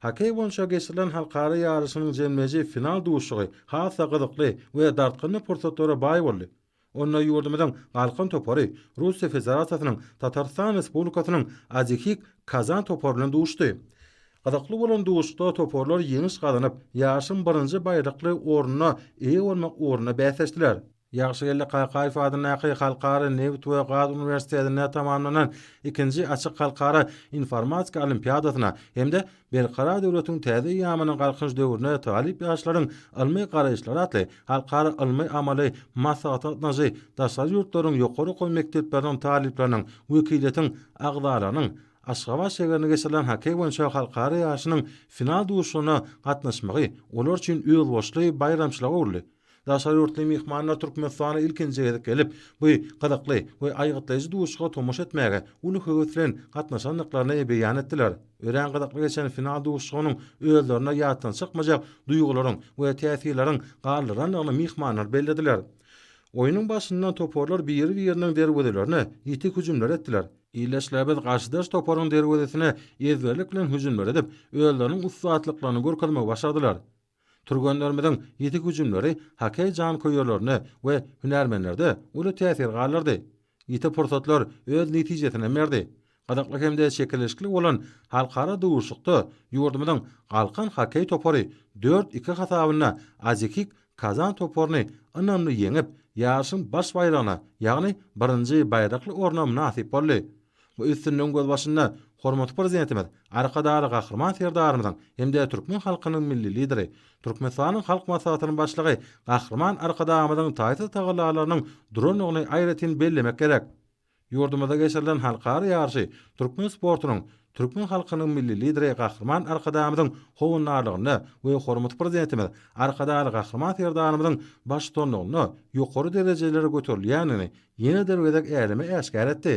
Hokkeý boýunça geçirilen halkara ýaryşynyň jemleýji final duşuşygy has-da gyzykly we dartgynly pursatlara baý boldy. Onda ýurdumyzyň Galkan topary Russiýa Federasiýasynyň Tatarystan Respublikasynyň Azihik Kazan topary bilen duşdy. Gyzykly bolan duşuşykda toparlar ýeňiş gazanyp, ýaryşyň birinji baýrakly ornuna eýe bolmak ugrunda bäsleşdiler. Ýagşygeldi Kakaýew adyndaky Halkara nebit we gaz uniwersitetinde tamamlanan ikinji açyk halkara informatika olimpiadasyna hem-de Berkarar döwletiň täze eýýamynyň Galkynyş döwrüne talyp ýaşlaryň ylmy garaýyşlary atly halkara ylmy-amaly maslahata gatnaşy daşary ýurtlaryň ýokary okuw mekdepleriniň talyplarynyň wekiliýetiň agzalarynyň Aşgabat şägerinde geçirilen hokkeý boýunça halkara ýaryşynyň final duşuşygyna gatnaşmagy olar üçin özboluşly baýramçylyga öwrüldi. Daşary ýurtly myhmanlar Türkmenistana ilkinji gezek gelip, bu gyzykly we aýgytlaýjy duşuşyga tomaşa etmäge uly höwes bilen gatnaşandyklaryny beýan etdiler. Örän gyzykly geçen final duşuşygynyň özlerinde ýatdan çykmajak duýgularyň we täsirleriň galdyrandygyny myhmanlar bellediler. Oýnuň başyndan toparlar biri-biriniň derwezelerine ýiti hüjümler etdiler. Ildeşlerimiz garşydaş toparyň derwezesine ezberlik bilen hüjümler edip, özleriniň ussatlyklaryny görkezmegi başardylar. Türgenlerimiziň ýiti hüjümleri hokkeý janköýerlerinde we hünärmenlerde uly täsir galdyrdy. Ýiti pursatlar öz netijesinem berdi. Gyzykly hem-de çekeleşikli bolan halkara duşuşykda ýurdumyzyň Galkan hokkeý topary dört iki hasabynda Azekik Kazan toparyny ynamly ýeňip, ýaryşyň baş baýragyna, ýagny birinji baýrakly orna mynasyp boldy. Bu üstünligiň gözbaşynda hormatly Prezidentimiz Arkadagly Gahryman Serdarymyzyň hem-de türkmen halkynyň Milli Lideri, Türkmenistanyň Halk Maslahatynyň Başlygy Gahryman Arkadagymyzyň taýsyz tagallalarynyň durandygyny aýratyn bellemek gerek. Ýurdumyzda geçirilen halkara ýaryşy türkmen sportunyň, türkmen halkynyň Milli Lideri Gahryman Arkadagymyzyň howandarlygynda we hormatly Prezidentimiz Arkadagly Gahryman Serdarymyzyň baştutanlygynda ýokary derejelere göterilýändigini ýene bir gezek äleme äşgär etdi.